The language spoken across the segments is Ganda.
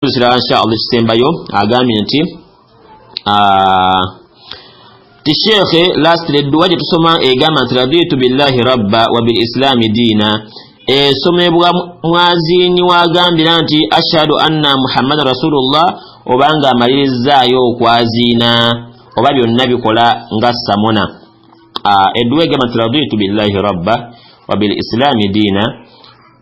ekirala insha allah ekisembayo agambye nti ah, ti sheekhe lastly edduwa gye tusoma egamba nti raditu billahi rabba wa bil islaami diina esomebwa mwaziinyi wagambira nti ashhadu anna muhammadan rasulullah oba nga amalirizaayo okwaziina oba byonna bikola nga samona Ah, edduwa egamba nti raditu billahi rabba wa bil islaami diina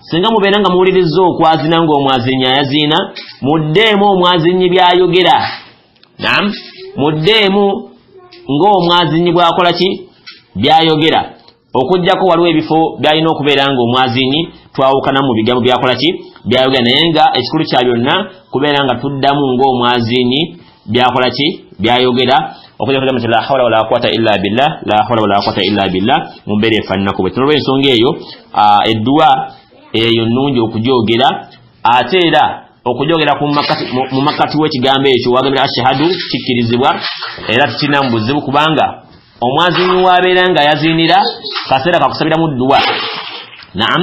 singa mubeera nga muwulirizza okwazina ng'omwazinnyi ayaziina muddeemu omwazinnyi by'ayogera nam muddeemu ng'omwazinnyi bw'akola ki by'ayogera okujjako waliwo ebifo by'alina okubeera ng'omwazinnyi twawukana mu bigambo by'akola ki by'ayogera naye nga ekikulu kya byonna kubeera nga tuddamu ng'omwazinnyi byakola ki byayogera okujja kudama nti la hawla wala quwata illa billah la hawla wala quwata illa billah mu mbeera efaananako bwe tunolwa ensonga eyo edduwa eyo nnungi okugyogera ate era okugyogera mu makkati w'ekigambo ekyo wagamira ashahadu kikkirizibwa era tukirina mu buzibu kubanga omwaziini waabeera nga yaziinira kaseera kakusabiramu dduwa naam